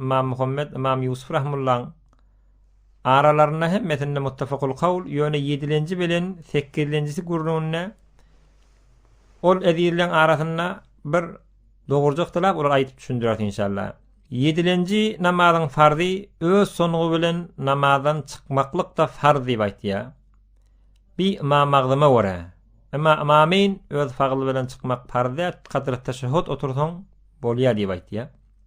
Ymam Muhammet, Ymam Ýusup rahmullaň aralarynda hemmesinde muttafakul kawl, ýöne ýedilenji bilen sekizlenjisi gürrüňinde ol ezizleň arasynda bir dogurjy yhtylaw olar aýdyp düşündireris inşallah. Ýedilenji namazyň farzy öz sungy bilen namazdan çykmaklykda farz diýip aýtýar. Bi Ymam Magzyma görä. Emma Ymamayn öz fagyl bilen çykmak farz däl, kadr teşehhut otursaň bolýar diýip aýtýar.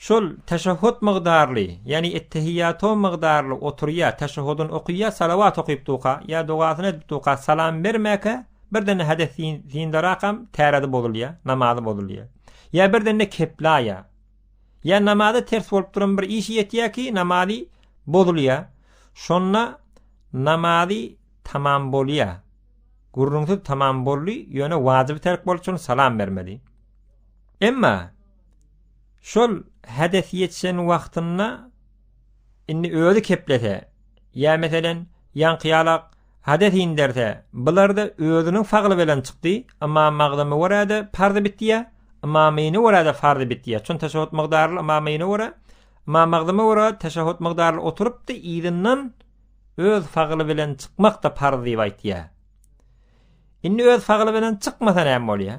Şol teşehhut mygdarly, ýagny ettehiýýato mygdarly oturýa, teşehhudyn okyýa, salawat okypduka, ýa dogasyny edipduka, salam bermäkä, birden-de hades syndarakam tärezi bozulýa, namazy bozulýa. Ýa birden-de keplaýa. Ýa namaza ters bolup duran bir işi ýetýä ki, namazy bozulýa. Şonda namazy tamam bolýa. Gürrüňsiz tamam boldy, ýöne wajibi terk bolşuny salam bermeli. Emma Şol hedes ýetişen wagtynda indi özi keplese, ýa meselen, ýaňky ýalak hades inderse, bular-da özüniň fagly bilen çykdy, ymam magzymy görä-de parzy bitýär, ymamyny görä-de farzy bitýär. Çün teşehhut mygdaryly ymamyny görä, ymam magzymy görä teşehhut mygdaryly oturypdy, yzyndan öz fagly bilen çykmak-da parz diýip aýtýar. Indi öz fagly bilen çykmasa näme bolýar?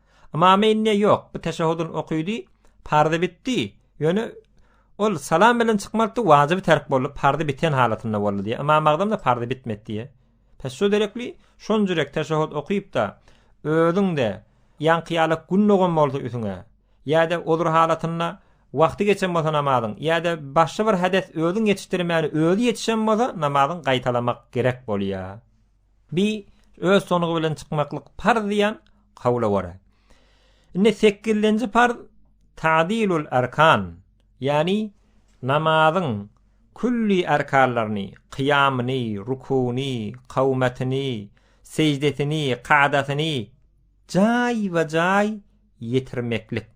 Ymamy indä ýok, bu teşehudyny okydy, parzy bitdi, ýöne ol salam bilen çykmalypdy, wajyby terk boldy, parzy biten halatynda boldy diýýär. Ymam Agdamda parzy bitmedi diýýär. Pes şo derekli şonjurek teşehhut okyp-da, özüň-de ýaňky ýalak gün dogan bolsa üsüňe, ýa-da odur halatynda wagty geçen bolsa namazyň, ýa-da başga bir hades özüň ýetişdirmäni özi ýetişen bolsa namazyň gaýtalamak gerek bolýar. Bi öz sonugy bilen çykmaklyk parz diýýän kawla görä. Indi sekizlenji parz Ta'dilul arkan, ýagny namazyň külli arkanlaryny, kyýamyny, rukuny, kawmatyny, seždesini, kadasyny jaýba-jaý ýetirmeklik.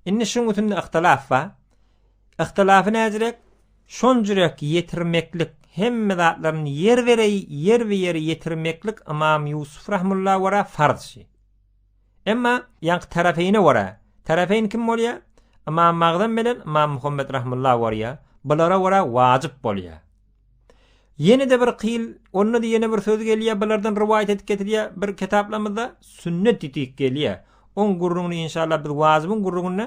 Indi şuň üstünde yhtylaf bar. Yhtylafy näzirek, şonjyrek ýetirmeklik, hemme zatlaryny ýer bereý, ýerbi-ýer ýetirmeklik Ymam Ýusup rahmulla wara farz şi. Emma, ýaňky Tarafeýne wara, Tarafeýn kim bolýar? Ymam Magdam bilen Ymam Muhammet rahmulla wara, bulara wara wajyp bolýar. Ýene-de bir kyl, onda-da ýene bir söz gelýär, bulardan rowaýat edip getirýär, bir kitaplarymyzda sünnet diýdik gelýär. Oň gürrüňini inşallah biz wajybyň gürrüňinde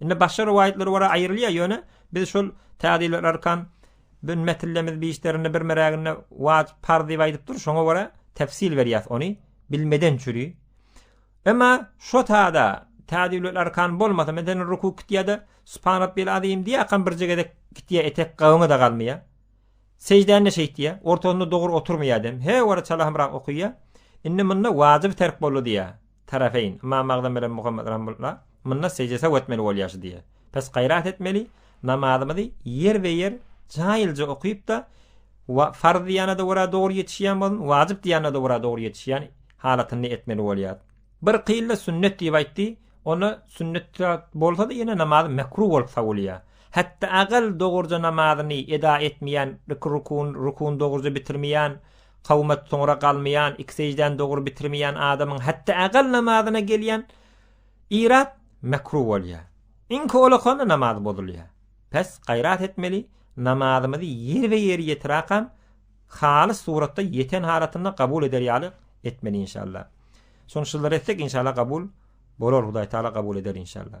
Indi başga rowaýatlar ora aýrylýar, ýöne biz şol täzeli arkan bin metillemiz bişlerinde bir meräginde waj parz diýip aýdyp dur, şoňa göre tefsil berýäs ony bilmeden çüri. Emma şo täze täzeli arkan bolmasa, meden ruku kitýäde subhan rabbil azim diýäkam birje gezek kitýä etek gabyňa da galmaýar. Sejdäni şeýtýä, ortasynda dogry oturmaýar dem. He wara çalahymrak okaýa. Indi munda wajyp terk boldy diýä. Tarafeýn, Ymam Agzam bilen Muhammet Ramullah, munda sežde saw etmeli bolýaşy diýýä. Pes gaýrat etmeli, namazymyzy ýerbe-ýer jaýylja okyp-da, wa farz diýýänede ora dogry ýetişýän bolun, wajyp diýýänede ora dogry ýetişýän halatynda etmeli bolýar. Bir kyl-da sünnet diýip aýtdy, onda sünnet bolsa-da ýene namazy mekruh bolup sawulýar. Hetde agyl dogurja namazyny eda etmeýän, iki rukuny, rukuny dogurja bitirmeýän, Kawumat soňra galmaýan, iki sejdäni dogry bitirmeýän adamyň hatda agal namazyna gelýän yrat mekruh bolýar. Iň howlukanda namaz bozulýar. Pes gaýrat etmeli, namazymyzy ýerbe-ýer ýetirakam, halys suratda ýeten halatynda gabul eder ýaly etmeli inşallah. Şony şyzdyr etsek inşallah gabul bolar Hudaýtagala gabul eder inşallah.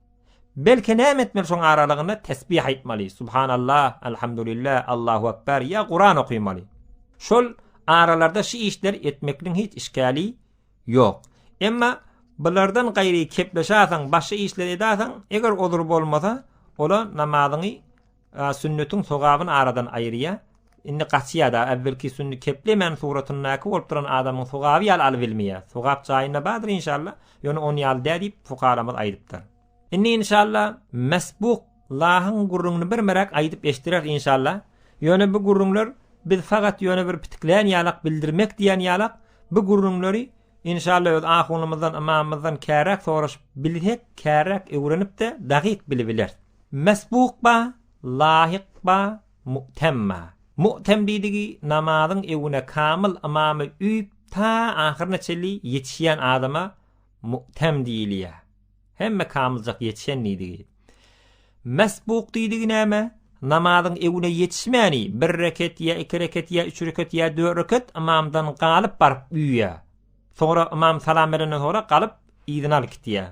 Belki näme etmeli şoň aralygynda tesbih aýtmaly, subhanallah, alhamdulilla, allahu akbar ýa Kuran okymaly. Şol aralarda şu işleri etmekliň hiç işgäli ýok. Emma bulardan gaýry kepleşäsen, başga işleri edäsen, eger odur bolmasa, ola namazyňy A sünnetiň sogabyny aradan aýyrýa, indi gaçýa-da, äwvelki sünni keplemän suratyndaky bolup duran adamyň sogaby ýaly alyp ilmeýär. Sogap jaýynda bardyr inşalla, ýöne ony ýaly dä diýip fukaramyz aýdypdyr. Indi inşalla mesbuk lahyň gürrüňini birmeräk aýdyp eşdireris inşalla, ýöne bu gürrüňler biz fagat ýöne bir pitiklän ýalak bildirmek diýen ýalak bu gürrüňleri inşalla öz ahunymyzdan, ymamymyzdan käräk soraşyp bilsek käräk öwrenip-de dagyk bilibileris. Mesbuk ba, laýyk ba, mu'tem ba. Mu'tem diýdigi namazyň öwüne kamyl ymamy üýüp ta ahyryna çenli ýetişýän adama mu'tem diýilýär. Hemme kamyljak ýetişen diýdigi. Mesbuk diýdigi näme? Namazyň öwüne ýetişmäni bir reket ýa iki reket ýa üç reket ýa dört reket ymamdan galyp baryp üýýär. Soňra ymam salam berenden soňra galyp yzyna alyp gitýär.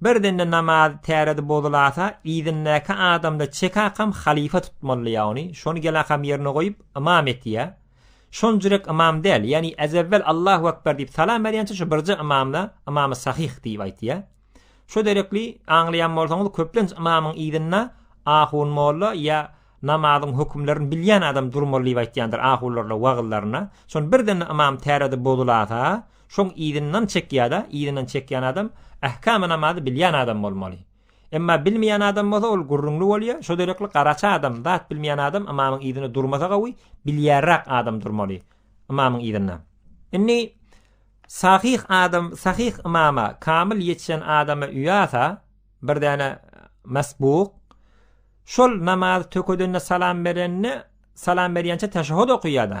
Birden-de namaz täredi bozulasa, yzyndäki adamda çekakam halypa tutmalydy ýagny, şony gelakam ýerine goýup, ymam etýä. Şonjurek ymam däl, ýagny ezewwel Allahu ekber diýip salam berýänçä şu birje ymamda ymamy sahyh diýip aýtýa. Şo derekli, aňlaýan bolsaňyz, köplenç ymamyň yzynda ahun molla ýa namazyň hökümlerini bilýän adam durmaly diýip aýtýandyr ahularla wagyzlarynda. Şony birden-de ymam täredi bozulasa, Şoň yzyndan çekýada, yzyndan çekýän adam ähkamy namazy bilýän adam bolmaly. Emma bilmeýän adam bolsa ol gürrüňli bolýa, şo derekli garaçy adam, zat bilmeýän adam ymamyň yzynda durmasa gawy, bilýärräk adam durmaly ymamyň yzynda. Indi sahyh adam, sahyh ymama, kamyl ýetişen adama uýasa, bir däne masbuk, şol namazy tökedende salam berende, salam berýänçä teşehhut okaýada,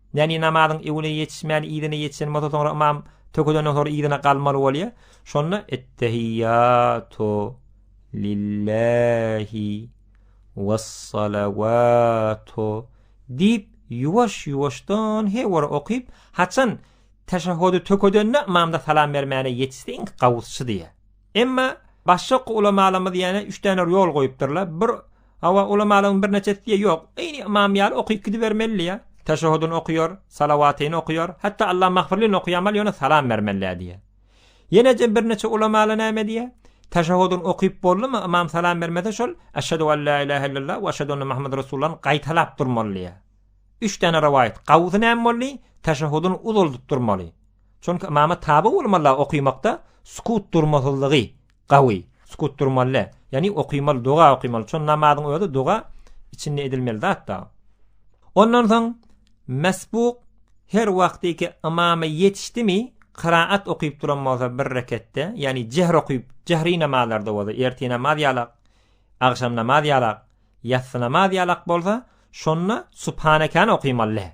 Näni namazyň öwüne ýetişmän yzyna ýetişen bolsa soňra ymam tökezenden soňra yzyna galmaly bolýa. Şonda ettehiýatu lillahi wessalawatu diýip ýuwaş ýuwaşdan he wara okyp haçan teşehhudi tökezende ymamda salam bermäne ýetişse iň gawusçy diýýä. Emma başak ulamalarymyz ýane üç däne ýol goýupdyrlar. Bir Hawa, ulamalygyň birneçesi diýe ýok. Eýni ymam ýaly okyp gidibermeli-ä. Teşehudyny okaýar, salawatyny okaýar, hatda Allamagfirlini okaýamaly, ýöne salam bermeli-ä diýýär. Ýeneje birneçe ulamalar näme diýýär? Teşehudyny okyp boldumy, ymam salam bermese şol, Eşhedü en la ilahe illallah we eşhedü enne Muhammeden Resulullah-ny gaýtalap durmaly diýýär. Üç däne rowaýat. Gawusy näme boldy? Teşehudyny uzaldyp durmaly. Çünki ymama tabe bolmaly-a okymakda sukut, durmasyzlygy, Gawy. Sukut durmaly. Ýagny okymaly, doga okymaly. Çon namazyň özi doga içinde edilmeli zat da. Ondan soň mesbuk her wagtyky ymama ýetişdimi, kyraat okyp duran bolsa bir reketde, ýagny jähr okyp, jähri namazlarda bolsa, ertir namaz ýalak, agşam namaz ýalak, ýassy namaz ýalak bolsa, şonda subhanekany okymaly.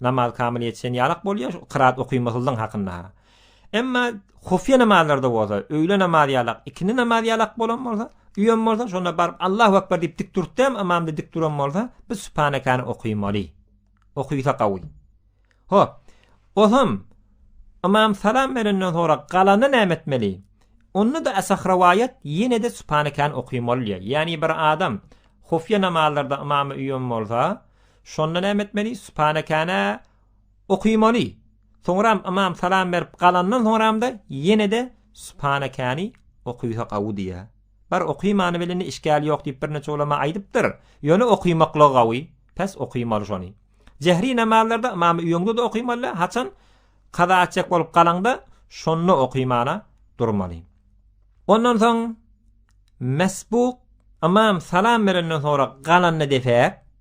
Namaz kamyl ýetişen ýalak bolýar, şu kyraat okymasyzlygyň hakynda. Emma hufýa namazlarda bolsa, öýle namazy ýalak, ikindi namazy ýalak bolan bolsa, uýam bolsa, şonda baryp Allahu akbar diýip dik durupdam, ymamda dik duran bolsa, biz sübhanekany okymaly. Okysa gawy. Hop. Ozam ymam salam berenden soňra galanda näme etmeli? Onda-da asah rowaýat ýene-de sübhanekany okymaly diýýär. Ýagny bir adam hufýa namazlarda ymamy uýam bolsa, Şonda näme etmeli? Sübhanekänä okymaly. Soňram ymam salam berip galandan soňramda ýene-de Sübhanekäni okysa gawy diýýä. Bar okymany bilini işgäli ýok diýip birneçe ulama aýdypdyr. Ýöne okymaklygy gawy. Pes okymaly şony. Jehri namazlarda ymamy öýüňde-de okymaly, haçan kaza etjek bolup galaňda şonda okymana durmaly. Ondan soň mesbuk ymam salam berenden soňra galanny depäk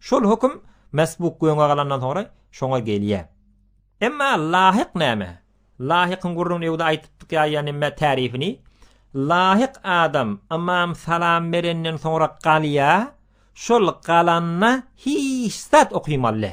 Şol höküm mesbuk göňe galandan soňra şoňa gelýär. Emma lahyk näme? Lahykyň gürrüňini ýa-da aýdypdyk ýa-da näme tärifini. Lahyk adam ymam salam berenden soňra galýar, şol galanda hiç zat okymally.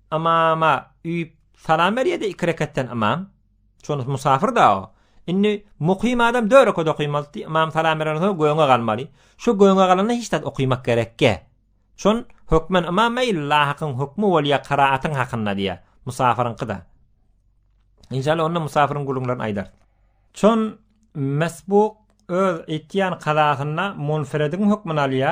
Ymama üýüp salam berýärdi iki rekatdan ymam. Şonusy musafyrda o. Indi mukym adam dört rekat okymalydy. Ymam salam berenden soň göwne galmaly. Şu göwne galanda hiç zat okymak gerekge. Şon hökmen ymam eý lahakyň hökmi bolýa kyraatyň hakynda diýä. Musafyryňkyda. Inşallah onda musafyryň gürrüňlerini aýdar. Şon mesbuk öz etýän kazasynda munferediň hökmüni alýa,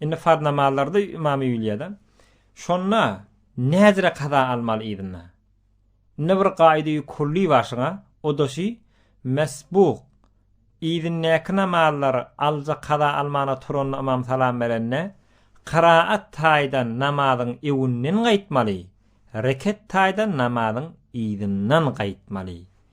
Indi farz namazlarda ymamy ýuliýada. Şonda näzire kaza almaly yzynda. Indi bir gaýdy kulli başyňa, o da şi, mesbuk, yzyndäki namazlary alja kaza almana turanda ymam salam berende, kyraat taýdan namazyň öwünden gaýtmaly, reket taýdan namazyň yzyndan gaýtmaly.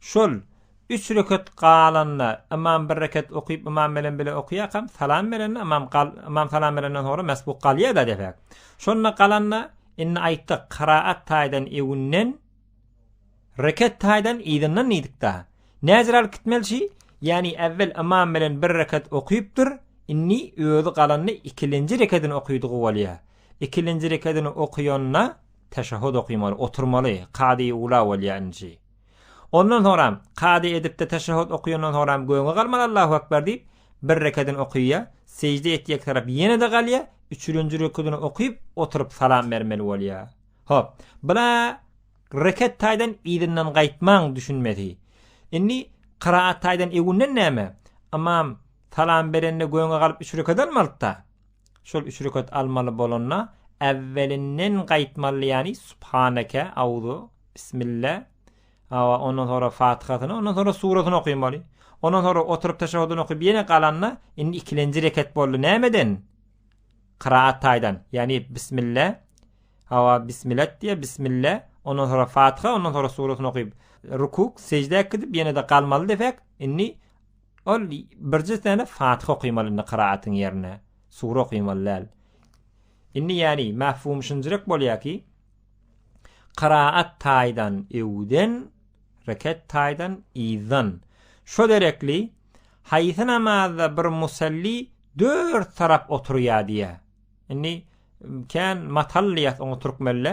Şol, üç rekat galanda, ymam bir rekat okyp, ymam bilen bile okýarkam, salam berende, ymam gal, ymam salam berenden soňra mesbuk galýar-da depäk. Şonda galanda, indi aýtdyk, kyraat taýdan öwünden, rekat taýdan yzyndan diýdik-da. Näzir alyp gitmelçi, ýagny äwwel ymam bilen bir rekat okypdyr, indi özi galanda ikilinji rekadyny okydygy bolýar. Ikilinji rekadyny okýanda, teşehhut okamaly, oturmaly, kady-ula bolýar nji. Ondan soňram, kady edipde teşehhut okaýandan soňram göni galman Allahu ekber diýip, bir rekedini okaýar, sejde etjek tarap ýene-de galýar, üçürinji rekudyny okyp, oturyp salam bermeli bolýar. Hop, bula reket taýdan yzyndan gaýtmaň düşünmesi. Indi kyraat taýdan egunden näme? Ymam salam berende göni galyp üç reket almalyda. Şol üç rekat almaly bolanda äwwelinden gaýtmaly ýany subhaneke, auzu, bismille, hawa ondan sonra fatyhasyny ondan sonra surasyny okamaly. Ondan sonra oturyp teşehudyny okyp ýene galanda indi ikilenji rekat boldy nämeden? Kyraat taýdan ýany bismille, hawa bismilet diýe bismille ondan sonra fatyha ondan sonra surasyny okyp rukuk, sejdä gidip ýene-de galmaly desek indi Ol birje sene Fatyha okymaly indi kyraatyn ýerine sure okymaly däl. Indi ýani mefhum şunjrek bolýa ki kyraat taýdan öwden reket taýdan yzdan şo derekli haýsy namazda bir musalli dört tarap oturýa diýä. Indi kän matallyýas oňa türkmende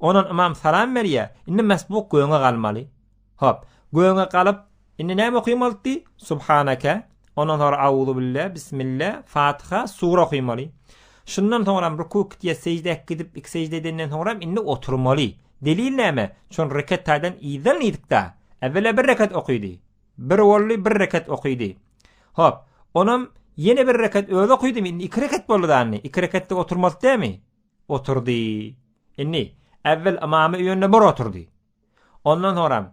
Ondan ymam salam berýär, indi mesbuk göwne galmaly. Hop, göwne galyp, indi näme okymaldy? Subhaneke, ondan soňra Auzubille, Bismille, Fatiha, sure okymaly. Şundan soňram ruku kitýe sežde gidip, iki sežde edenden soňram indi oturmaly. Delil näme? Çun reket taýdan yzdan yzykda. Äwela bir reket okydy. Bir boldy, bir reket okydy. Hop, onam ýene bir reket özi okydymy? Indi iki reket boldy dany. Iki reketde oturmaly dämi? Oturdy. Indi, äwwel ymamy öýünde bir oturdy. Ondan soňram,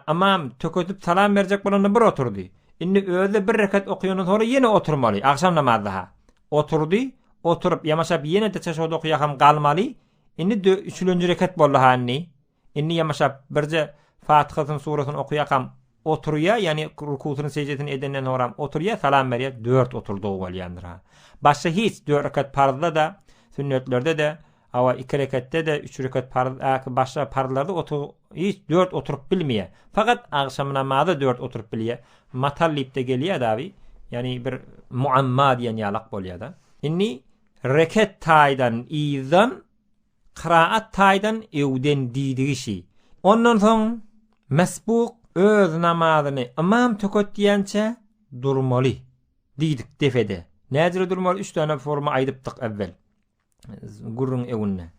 ymam tökedip salam berjek bolanda bir oturdy. Indi özi bir rekat okaýandan soňra ýene oturmaly, agşam namazda-ha. Oturdy, oturyp, ýamaşap ýene-de çeşewde okaýakam galmaly. Indi dö, üçülenji rekat boldy-ha indi. Indi ýamaşap, birje Fatyhasyny, surasyny okaýakam, oturýa, ýagny rukusyny, seždesini edenden soňram oturýa, salam berýä, dört oturdygy bolýandyr-ha. Başga hiç, dört rekat parzda-da, sünnetlerde-de, hawa, iki rekatde-de, üç rekat parz, ýa-ki başga parzlarda otur, hiç dört oturyp bilmeýä. Fakat agşam namaza dört oturyp bilýä. Matal diýip-de gelýä-de abi, ýagny bir muamma diýen ýalak bolýa-da. Indi rekat taýdan yzdan Kyraat taýdan öwden diýdi kişi. Ondan soň Mesbuk öz namazyny ymam töketýänçä durmaly diýdik depede. Näjüre durmaly? Üç sany forma aýdypdyk äwwel gürrüň öwünde.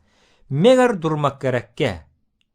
Meger durmak gerekkä?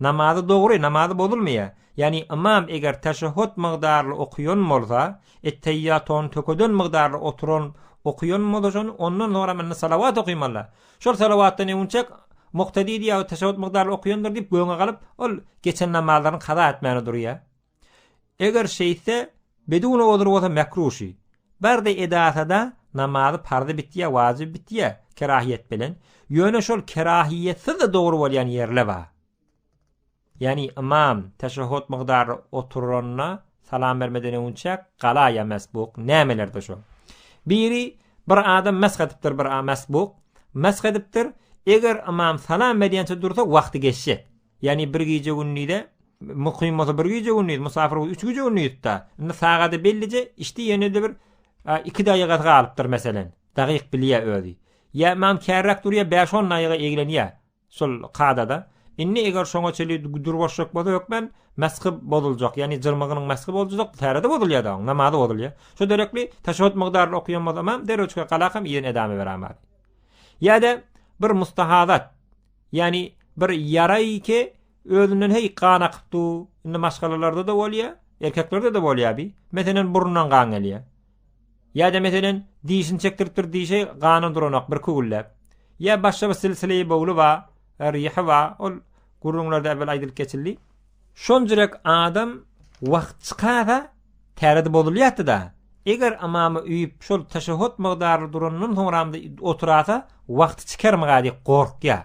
Namazy dogry, namazy bozulmaýar. Ýagny ymam eger teşehhut mygdarly okaýan bolsa, etteýýatony tökeden mygdarly oturan okaýan bolsa şony, ondan soň hem indi salawat okaýmalylar. Şol salawatdan öwünçäk muktedi diýýär, teşehhut mygdarly okaýandyr diýip göwne galyp, ol geçen namazlaryny kaza etmäne durýar. Eger şeýtse, Beduno odur bolsa mekruh-şi. Bardy edasa-da namazy parzy bitýä, wajyby bitýä, kerahiýet bilen. Ýöne şol kerahiýetsiz-de dogry bolýan ýerle bar. Ýagny ymam teşehhut mygdary oturanda salam bermeden öwünçäk gala ýa mesbuk, nämelerdir şol. Biri bir adam mesh edipdir bir a mesbuk, mesh edipdir, eger ymam salam berýänçä dursa wagty geçjek. Ýagny bir gije-gündize Mukym bolsa bir gije-gündiz, musapyr bolsa üç gije-gündizda. Indi sagady bellije içdi, ýene-de bir iki daýygasy galypdyr, meselen. Dagyk bilýär özi. Ýa ymam kärräk durýar, bäş-on daýyga eglenýär. Şol kadada. Indi eger şoňa çenli durbaşjak bolsa hökmän mesgi bozuljak. Ýagny jyrmygynyň mesgi bozuljak, täre-de bozulýar-da oň, namazy bozulýar. Şo derekli teşehhüt mukdaryny okaýan bolsa ymam, derrew çykyp galakam yzyn edame beräýmär. Ýa-da bir mustahadat. Ýani bir ýaraýke özünden heý gan akyp du, indi maşgalalarda da bolýa, erkeklerde de bolýa bi, meselen burnundan gan gelýä. Ýa-da meselen dişini çekdiripdir dişe gana duranok bir kügülläp. Ýa başga bir silsileýi bowly ba, rihi ba, ol gürrüňlerde äwel aýdylyp geçildi. Şonjrek adam wagt çykasa Täredi bozulýatdy-da, eger ymamy üýüp şol teşehhut mygdaryly durandan soňramda oturasa wagty çykarmyga diýip gorkýa.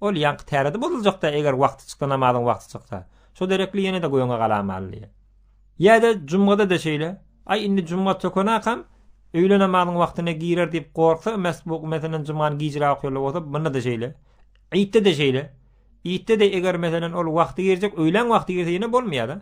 Ol ýaňky täredi bozuljak-da eger wagty çyksa namazyň wagty çyksa. Şo derekli ýene-de göwne galamaly diýýä. Ýa-da jumgada-da şeýle. Aý indi jumga tökenakam öýle namazyň wagtyna girer diýip gorksa mesbuk meselem jumgany gijräk okýarlar bolsa munda-da şeýle. Ytda-da şeýle. Ytda-da eger meselem ol wagty girjek öýläň wagty girse ýene bolmaýa-da.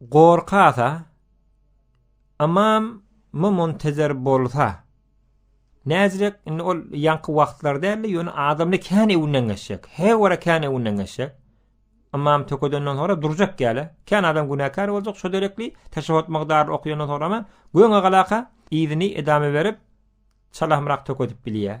Gorka-da, ymam my muntezer bolsa, näzirek, indi ol ýaňky wagtlar däldi, ýöne adamly kän öwünden geçjek, her wara kän öwünden geçjek. Ymam tökedenden soňra durjak ýaly, kän adam günäkär boljak, şo derekli teşehhut mukdaryny okaýandan soňrama, göni galaka yzyny edame berip, çalahmyrak tökedip bilýär.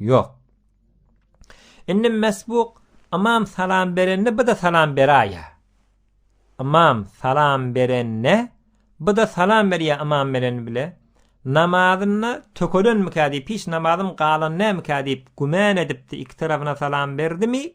Ýok. Indi Mesbuk ymam salam berende bu-da salam beraýýa. Ymam salam berende bu-da salam berýä ymam menen bile. Namazynda tökelenmikä diýip hiç namazym galan dälmikä diýip güman edipdi iki tarapyna salam berdimi?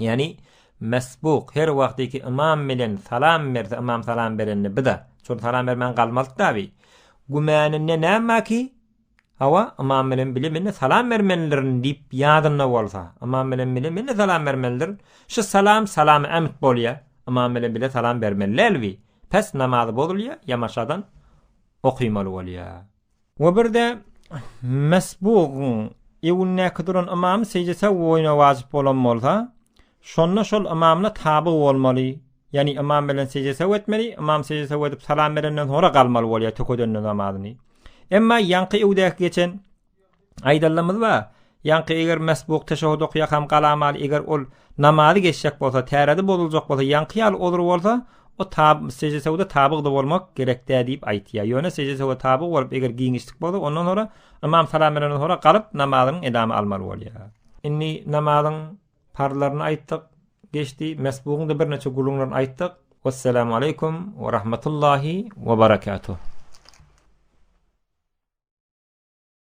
Ýagny mesbuk her wagtyky ymam bilen salam berse, ymam salam berende biz-a şol salam bermän galmalyk dabi. Gümäninde näme ki, hawa, ymam bilen bile men-de salam bermelidirin diýip ýadynda bolsa, ymam bilen bile men-de salam bermelidirin. Şu salam salamy ämit bolýar. Ymam bilen bile salam bermeli däl bi. Pes namazy bozulýar, ýamaşadan okymaly bolýar. We bir-de mesbugyň öňündäki duran ymamy sejdese boýuna wajyp bolan bolsa, şonda şol ymamyna taby bolmaly, ýagny ymam bilen sejdese etmeli, ymam sejdese edip salam berenden soňra galmaly bolýar tökedende namazyny. Emma ýaňky öwdäki geçen Aýdanymyz bar, ýaňky eger mesbuk teşehhut okýarkam galamaly eger ol namazy geçjek bolsa, täredi bozuljak bolsa, ýaňky ýaly ozry bolsa, o tab sejde sewda tabygda bolmak gerek dä diýip aýtýar. Ýöne sejde sewda tabygy bolup eger giňişlik bolsa, ondan sonra ymam salam berenden sonra galyp namazynyň edamy almaly bolýar. Indi namazyň parzlaryny aýtdyk, geçdi, mesbugyň da birnäçe gulunlaryny aýtdyk. Wessalamu aleýkum we rahmetullahi we berekatuh.